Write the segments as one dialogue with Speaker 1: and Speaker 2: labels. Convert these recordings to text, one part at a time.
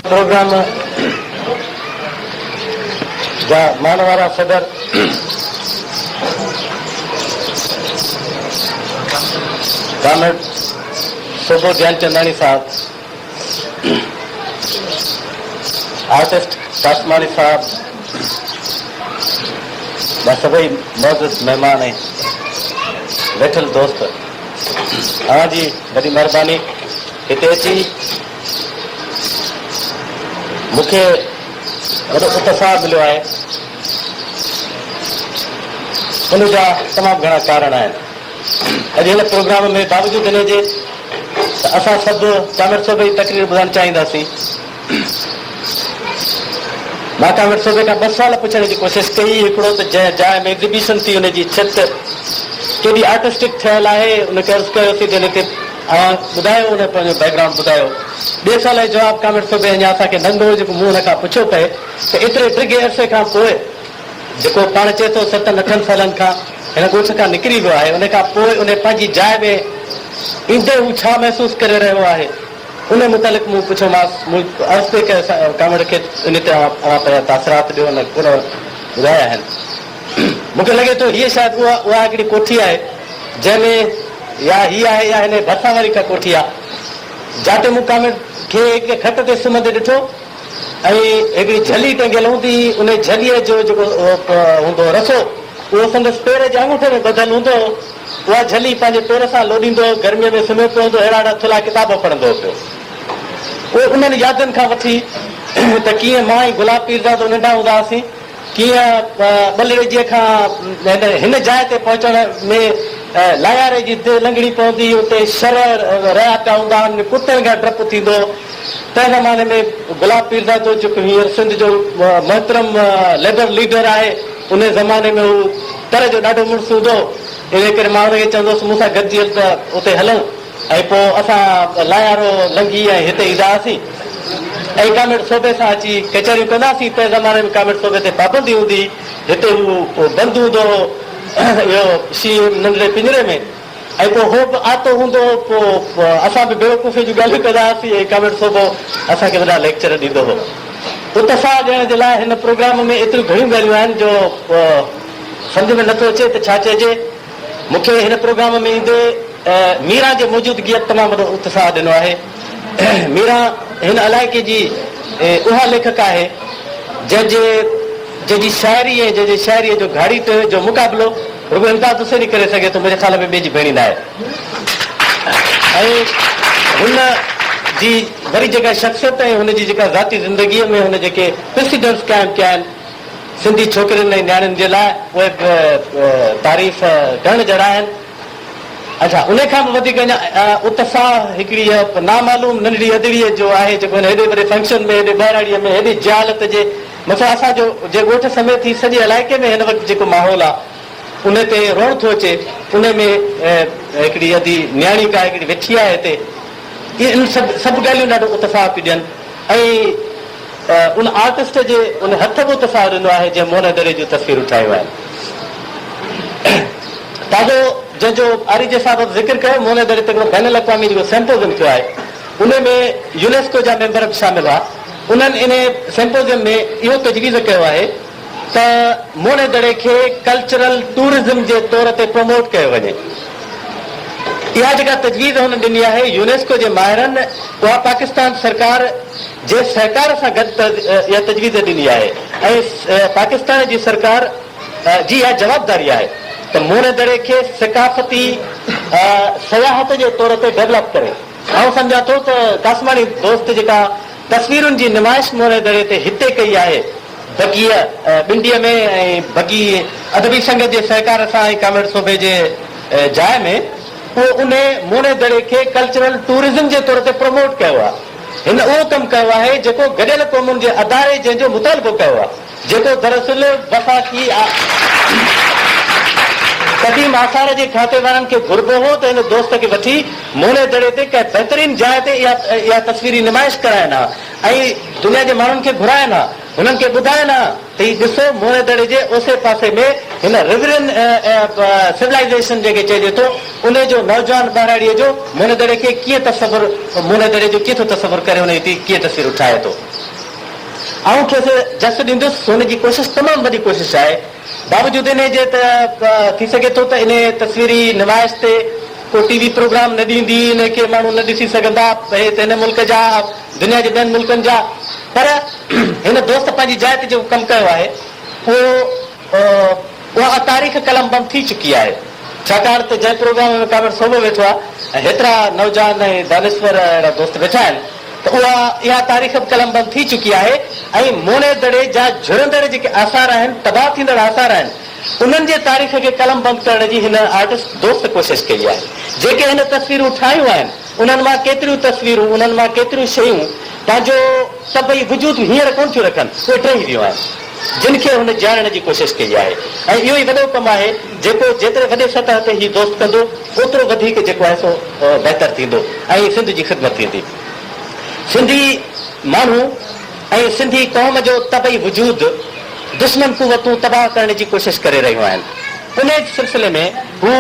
Speaker 1: Programme جا مان وارا صدر ڪامريڊ سوڀو گيانچنداڻي صاحب، آرٽسٽ قاسماڻي صاحب، ٻيا سڀئي معزز مهمان ۽ ويٺل دوست اوهان جي وڏي مهرباني هتي اچي مون کي وڏو اتساهه مليو آهي. ان جا تمام گهڻا ڪارڻ آهن. اڄ هن پروگرام ۾ باوجود ان جي ته اسان سڀ ڪامريڊ صوبي جي تقرير ٻڌڻ چاهينداسين. مان ڪامريڊ صوبي کان ٻه سوال پڇڻ جي ڪوشش ڪئي. هڪڙو ته جنهن جاء ۾ ايگزيبيشن ٿي ان جي ڇت ڪيڏي آرٽسٽڪ ٺهيل آهي. ان کي عرض ڪيوسين ته ان تي ها ٻڌايو ان پنهنجو بيڪ گرائونڊ ٻڌايو ٻي سوال جو جواب ڪامينٽ ٿو ڏي اڃا اسان کي ننڍو جيڪو منهن ان کان پڇيو پئي ته ايتري ڊگهي عرصي کان پوء جيڪو پاڻ چئي ٿو ستن اٺن سالن کان هن ڳوٺ کان نڪري ويو آهي ان کان پوء ان پنهنجي جاء ۾ ايندي هو ڇا محسوس ڪري رهيو آهي ان متعلق مون پڇيومانس مون عرض پئي ڪيو ڪامينٽ کي ان تي اوهان پنهنجا تاثرات ڏيو ان ڪونه ٻڌايا آهن مون کي لڳي ٿو هيء شايد اها اها هڪڙي ڪوٺي آهي جنهن ۾ يا هي آهي يا هن جي ڀرسان وري ڪا ڪوٺي آ. جاتي مون ڪامريڊ کي هڪڙي کٽ تي سمهندي ڏٺو ۽ هڪڙي جھلي ٽنگيل هوندي هئي، ان جھليء جو جيڪو هوندو هو رسو، اهو سندس پير جي آڱوٺي ۾ ٻڌل هوندو هو. اها جھلي پنهنجي پير سان لوڏيندو هو، گرميء ۾ سمهيو پيو هوندو هو، هيڙاهيڙا ٿلها ڪتاب پڙهندو هو پيو. پوء انهن يادن کان وٺي ته ڪيئن مان ۽ گلاب پيرزادو ننڍا هوندا هئاسين، ڪيئن ٻلڙجيء کان هن جاء تي پهچڻ ۾ لاياري جي دي لنگهڻي پوندي، اتي شرع رعا پيا هوندا هن ۾ ڪتن کان ڊپ ٿيندو. تنهن زماني ۾ گلاب پيرزادو جيڪو هينئر سنڌ جو محترم ليبر ليڊر آهي، انهيء زماني ۾ هو تر جو ڏاڍو مڙس هوندو هو، انهيء ڪري مان هن کي چوندو هوس مون سان گڏجي هل ته اتي هلون. ۽ پوء اسان لايارو لنگهي ۽ هتي ايندا هئاسين ۽ ڪاميٽ صوبي سان اچي ڪچهريون ڪندا هئاسين. تنهن زماني ۾ ڪاميٽ صوبي تي پابندي هوندي هئي. هتي هو بند هوندو هو اهو سي ايم ننڍڙي پڃري ۾ ۽ پوء هو به آتو هوندو هو. پوء اسان به بيوقوفيء جون ڳالهيون ڪندا هئاسين ۽ ڪاميٽ صوبو اسان کي وڏا ليڪچر ڏيندو هو. اتساهه ڏيڻ جي لاء هن پروگرام ۾ ايتريون گهڻيون ڳالهيون آهن جو سمجهه ۾ نه ٿو اچي ته ڇا چئجي. مون کي هن پروگرام ۾ ايندي ميران جي موجودگيء تمام وڏو اتساهه ڏنو آهي. ميران هن علائقي جي اها ليکڪه آهي، جنهن جي جنهن جي شاعري ۽ جنهن جي شاعريء جو گهاڙيٽ جو مقابلو رڳو امداد حسين ئي ڪري سگهي ٿو، منهنجي خيال ۾ ٻئي جي ڀيڻي ناهي. ۽ هن جي وري جيڪا شخصيت ۽ هن جي جيڪا ذاتي زندگيء ۾ هن جيڪي Precedents قائم ڪيا آهن، سنڌي ڇوڪرين ۽ نياڻين جي لاء اهي تعريف ڊڻ جهڙا آهن. اجها انهي کان به وڌيڪ اڃا اتساهه هڪڙيء نامعلوم ننڍڙي ادڙيء جو آهي جيڪو هن هيڏي وڏي فنڪشن ۾ هيڏي ٻهراڙيء ۾ هيڏي جهالت جي مٿان اسان جو جي ڳوٺ سميت هي سڄي علائقي ۾ هن وقت جيڪو ماحول آ انهي تي روئڻ ٿو اچي انهي ۾ هڪڙي ادي نياڻي ڪا هڪڙي ويٺي آهي هتي اهي سڀ سڀ ڳالهيون ڏاڍو اتساهه پيون ڏين. ۽ ان آرٽسٽ جي ان هٿ به اتساهه ڏنو آهي جنهن موهن دري جون تصويرون ٺاهيون آهن. تازو جنهن جو آريجي صاحب به ذڪر ڪيو موهن دري تي هڪڙو بين الاقوامي جيڪو سيمپوزيم ٿيو آهي انهي ۾ يونيسڪو جا ميمبر به شامل هئا انهن انهي سيمپوزيم ۾ اهو تجويز ڪيو آهي ته موڙي دڙي کي ڪلچرل ٽوئرزم جي طور تي پروموٽ ڪيو وڃي. اها جيڪا تجويز هن ڏني آهي يونيسڪو جي ماهرن اها پاڪستان سرڪار جي سهڪار سان گڏ اها تجويز ڏني آهي ۽ پاڪستان جي سرڪار جي اها جوابداري آهي ته موڙي دڙي کي ثقافتي سياحت جي طور تي ڊيولپ ڪري. آئون سمجهان ٿو ته ڪاسماڻي دوست جيڪا تصويرن جي نمائش مورئي دڙي تي هتي ڪئي آهي. بگيء ٻنڊيء ۾ ۽ بگي ادبي سنگت جي سهڪار سان ۽ ڪامريڊ سوڀي جي جاء ۾ اهو انهي مورئي دڙي کي ڪلچرل ٽوئرزم جي طور تي پروموٽ ڪيو آهي. هن اهو ڪم ڪيو آهي جيڪو گڏيل قومن جي اداري جنهن جو مطالبو ڪيو آهي. جيڪو دراصل وفاقي قديم آثار جي کاتي وارن کي گهربو هو ته هن دوست کي وٺي مولي دڙي تي ڪنهن بهترين جاء تي اها تصويري نمائش ڪرائين ها ۽ دنيا جي ماڻهن کي گهرائين ها هنن کي ٻڌائين ها ته هي ڏسو مولي دڙي جي اوسي پاسي ۾ هن Riverine Civilization جنهن کي چئجي ٿو انهي جو نوجوان ٻهراڙيء جو مولي دڙي کي ڪيئن تصور مولي دڙي جو ڪيئن ٿو تصور ڪري انهي تي ڪيئن تصويرون ٺاهي ٿو. آئون کيس جس ڏيندس، هن جي ڪوشش تمام وڏي ڪوشش آهي، باوجود انهي جي ته ٿي سگهي ٿو ته انهي تصويري نمائش تي ڪو ٽي وي پروگرام نه ڏيندي، انهي کي ماڻهو نه ڏسي سگهندا، اهي ته هن ملڪ جا دنيا جي ٻين ملڪن جا پر هن دوست پنهنجي جاء تي جيڪو ڪم ڪيو آهي اهو پر اها تاريخ قلم بند ٿي چڪي آهي، ڇاڪاڻ ته جنهن پروگرام ۾ ڪامريڊ صوڀو ويٺو آهي ۽ هيترا نوجوان ۽ دانشور اهڙا دوست ويٺا آهن ته اها اها تاريخ به قلم بند ٿي چڪي آهي ۽ موهڻي دڙي جا جهرندڙ جيڪي آثار آهن، تباهه ٿيندڙ آثار آهن، انهن جي تاريخ کي قلم بند ڪرڻ جي هن آرٽسٽ دوست ڪوشش ڪئي آهي. جيڪي هن تصويرون ٺاهيون آهن. انهن مان ڪيتريون تصويرون، انهن مان ڪيتريون شيون پنهنجو طبعي وجود هينئر ڪونه ٿيون رکن، اهي ٽهي ويون آهن، جن کي هن جيارڻ جي ڪوشش ڪئي آهي ۽ اهو ئي وڏو ڪم آهي، جيڪو جيتري وڏي سطح تي هي دوست ڪندو، اوترو وڌيڪ جيڪو آهي سو بهتر ٿيندو ۽ سنڌ جي خدمت ٿيندي. سنڌي ماڻهو ۽ سنڌي قوم جو طبعي وجود دشمن قوتون تباهه ڪرڻ جي ڪوشش ڪري رهيون آهن، انهيء سلسلي ۾ هو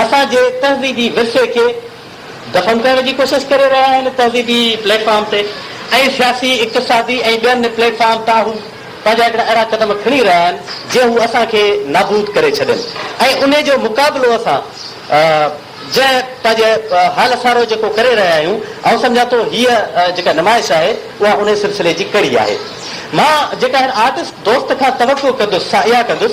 Speaker 1: اسان جي تهذيبي ورثي کي، دفن ڪرڻ جي ڪوشش ڪري رهيا آهن تهذيبي پليٽ فارم تي ۽ سياسي اقتصادي ۽ ٻين پليٽ فارم تان هو پنهنجا هڪڙا اهڙا قدم کڻي رهيا آهن جي هو اسان کي نابود ڪري ڇڏين ۽ انهي جو مقابلو اسان جنهن پنهنجي حال سارو جيڪو ڪري رهيا آهيون آئون سمجهان ٿو هيء جيڪا نمائش آهي اها انهي سلسلي جي ڪڙي آهي مان جيڪا هن آرٽسٽ دوست کان توقع ڪندس سا اها ڪندس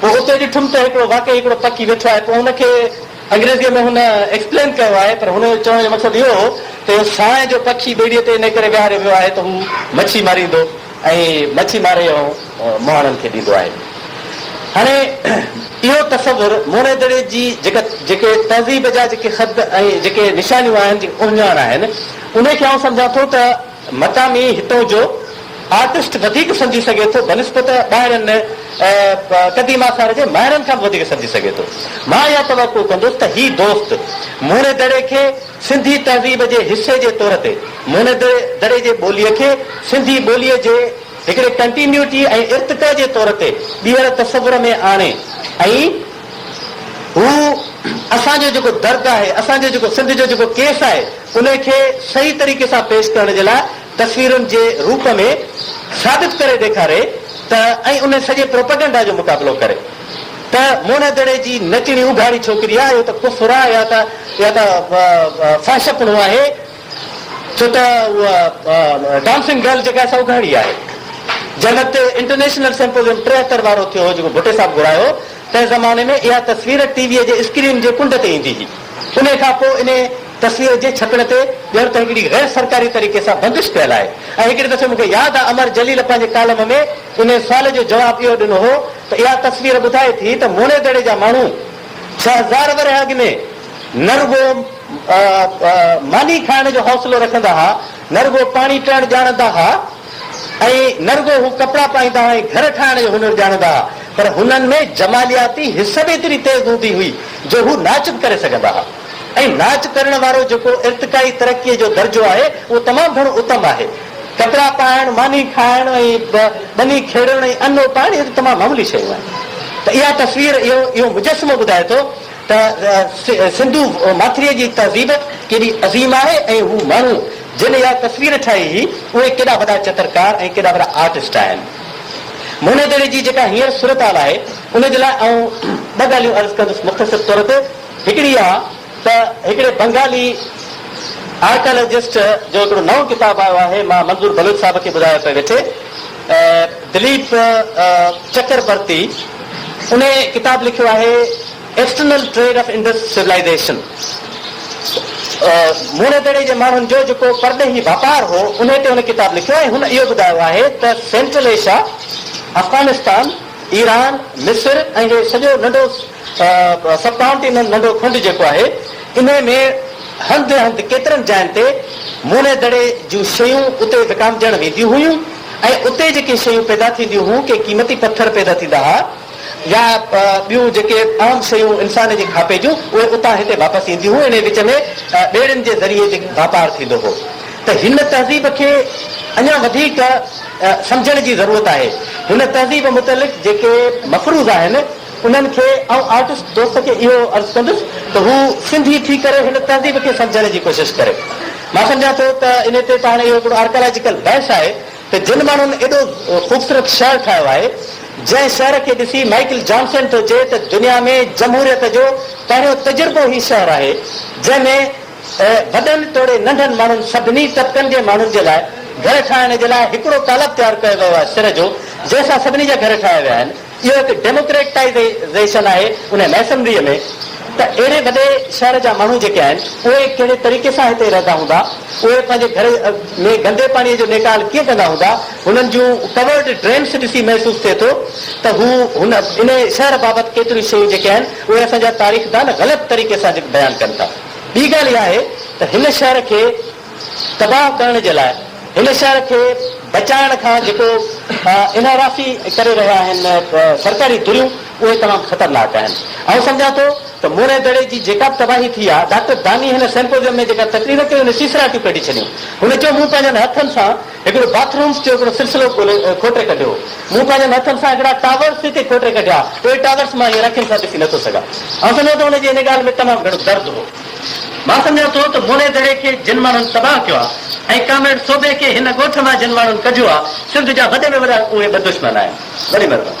Speaker 1: پوء اتي ڏٺم ته هڪڙو واقعي هڪڙو پکي ويٺو آهي پوء ان کي انگريزيء ۾ هن ايڪسپلين ڪيو آهي پر هن جو چوڻ جو مقصد اهو هو ته اهو سانء جو پکي ٻيڙيء تي انهي ڪري ويهاريو ويو آهي ته هو مڇي ماريندو ۽ مڇي ماري اوهين مهاڻن کي ڏيندو آهي هاڻي اهو تصور موئنيدڙي جي جيڪا جيڪي تهذيب جا جيڪي خط ۽ جيڪي نشانيون آهن جيڪي اهڃاڻ آهن انهي کي آئون سمجهان ٿو ته مقامي هتون جو آرٽسٽ وڌيڪ سمجهي سگهي ٿو بنسبت ٻاهرين قديم آثار جي ماهرن کان به وڌيڪ سمجهي سگهي ٿو. مان اها توقع ڪندس ته هي دوست موني دڙي کي سنڌي تهذيب جي حصي جي طور تي موني دڙي جي ٻوليء کي سنڌي ٻوليء جي هڪڙي ڪنٽينيوٽي ۽ ارتقا جي طور تي ٻيهر تصور ۾ آڻي ۽ هو اسان جو جيڪو درد آهي، اسان جو جيڪو سنڌ جو جيڪو ڪيس آهي، ان کي صحيح طريقي سان پيش ڪرڻ جي لاء تصويرن جي روپ ۾ ثابت ڪري ڏيکاري ته ۽ ان سڄي پروپئگنڊا جو مقابلو ڪري ته موهڻي دڙي جي نچڻي اگهاڙي ڇوڪري آهي، اهو ته ڪفر آهي يا ته يا ته فحشپڻو آهي. ڇو ته اها ڊانسنگ گرل جيڪا سا اگهاڙي آهي. جنهن وقت انٽرنيشنل سمپوزيم ٽيهتر وارو ٿيو هو جيڪو ڀٽي صاحب گهرايو هو تنهن زماني ۾ اها تصوير ٽي ويء جي اسڪرين جي ڪنڊ تي ايندي هئي. انهيء کان پوء انهيء تصوير جي ڇپڻ تي ڄڻ ته هڪڙي غير سرڪاري طريقي سان بندش پيل آهي ۽ هڪڙي دفعي مون کي ياد آهي امر جليل پنهنجي ڪالم ۾ انهيء سوال جو جواب اهو ڏنو هو ته اها تصوير ٻڌائي ٿي ته موڻيدڙي جا ماڻهو ڇهه هزار ورهيه اڳ ۾ نه رڳو ماني کائڻ جو حوصلو رکندا ها، نه رڳو پاڻي پيئڻ ڄاڻندا ها ۽ نه رڳو هو ڪپڙا پائيندا هئا ۽ گهر ٺاهڻ جو هنر ڄاڻندا ها، پر هنن ۾ جمالياتي حس به ايتري تيز هوندي هئي جو هو ناچ به ڪري سگهندا ها ۽ ناچ ڪرڻ وارو جيڪو ارتقائي ترقيء جو درجو آهي، اهو تمام گهڻو اتم آهي. ڪپڙا پائڻ، ماني کائڻ ۽ ٻني کيڙڻ ۽ انو پائڻ، اهي ته تمام معمولي شيون آهن. ته اها تصوير، اهو مجسمو ٻڌائي ٿو. ته سنڌو ماٿريء جي تهذيب ڪيڏي عظيم آهي ۽ هو ماڻهو جن اها تصوير ٺاهي هئي، اهي ڪيڏا وڏا چترڪار ۽ ڪيڏا وڏا آرٽسٽ آهن. مهنيدڙي جي جيڪا هينئر صورتحال آهي، ان جي لاء آئون ٻه ڳالهيون عرض ڪندس مختصر طور تي. هڪڙي اها ته هڪڙي بنگالي آرڪالاجسٽ جو هڪڙو نئون ڪتاب آيو آهي، مان منظور بلوچ صاحب کي ٻڌايو پئي ويٺي، دليپ چڪربرتي انهي ڪتاب لکيو آهي external trade of Indus civilisation Mohenjodaro جي ماڻهن جو جيڪو پرڏيهي واپار هو انهي تي هن ڪتاب لکيو ۽ هن اهو ٻڌايو آهي ته سينٽرل ايشيا افغانستان ايران مصر ۽ هي سڄو ننڍو سب ڪائونٽي ۾ ننڍو کنڊ جيڪو آهي انهي ۾ هنڌ هنڌ ڪيترن جاين تي موني دڙي جون شيون اتي وڪامجڻ وينديون هيون ۽ اتي جيڪي شيون پيدا ٿينديون هون ڪي قيمتي پٿر پيدا ٿيندا ها يا ٻيون جيڪي اهم شيون انسان جي کاپي جون اهي اتان هتي واپس اينديون هون انهي وچ ۾ ٻيڙين جي ذريعي جي واپار ٿيندو هو ته هن تهذيب کي اڃان وڌيڪ سمجهڻ جي ضرورت آهي هن تهذيب متعلق جيڪي مفروض آهن انهن کي آئون آرٽسٽ دوست کي اهو عرض ڪندس ته هو سنڌي ٿي ڪري هن تهذيب کي سمجهڻ جي ڪوشش ڪري. مان سمجهان ٿو ته انهي تي ته هاڻي اهو هڪڙو آرڪالاجيڪل بحث آهي ته جن ماڻهن ايڏو خوبصورت شهر ٺاهيو آهي جنهن شهر کي ڏسي مائيڪل جانسن ٿو چئي ته دنيا ۾ جمهوريت جو پهريون تجربو هي شهر آهي جنهن ۾ وڏن توڙي ننڍن ماڻهن سڀني طبقن جي ماڻهن جي لاء گهر ٺاهڻ جي لاء هڪڙو تالاب تيار ڪيو ويو آهي سر جو جنهن سان سڀني جا گهر ٺاهيا ويا آهن. اهو هڪ ڊيموڪريٽائيزيشن آهي ان ميسنريء ۾ ته اهڙي وڏي شهر جا ماڻهو جيڪي آهن اهي ڪهڙي طريقي سان هتي رهندا هوندا، اهي پنهنجي گهر ۾ گندي پاڻيء جو نيڪال ڪيئن ڪندا هوندا، هنن جون ڪورڊ ڊرينس ڏسي محسوس ٿئي ٿو ته هو هن انهي شهر بابت ڪيتريون شيون جيڪي آهن اهي اسان جا تاريخدان غلط طريقي سان بيان ڪن ٿا. ٻي ڳالهه اها آهي ته هن شهر کي. تباهه ڪرڻ جي لاء هن شهر کي بچائڻ کان جيڪو انحرافي ڪري رهيا آهن سرڪاري ڌريون اهي تمام خطرناڪ آهن آئون سمجهان ٿو ته موڻي دڙي جي جيڪا به تباهي ٿي آهي ڊاڪٽر داني هن سيمپوزيم ۾ جيڪا تقرير ڪئي ان سيسراٽيون ڪڍي ڇڏيون هن چيو مون پنهنجن هٿن سان هڪڙو باٿ رومز جو هڪڙو سلسلو کوٽي ڪڍيو مون پنهنجن هٿن سان هڪڙا ٽاورز هتي کوٽي ڪڍيا اهي ٽاورز مان هينئر اکين سان ڏسي نٿو سگهان آئون سمجهان ٿو هن جي ان ڳالهه ۾ تمام گهڻو درد هو. مان سمجهان ٿو ته موري دڙي کي جن ماڻهن تباهه ڪيو آهي ۽ ڪامريڊ صوڀي کي هن ڳوٺ مان جن ماڻهن ڪڍيو آهي، سنڌ جا وڏي ۾ وڏا اهي ٻه دشمن آهن. وڏي مهرباني.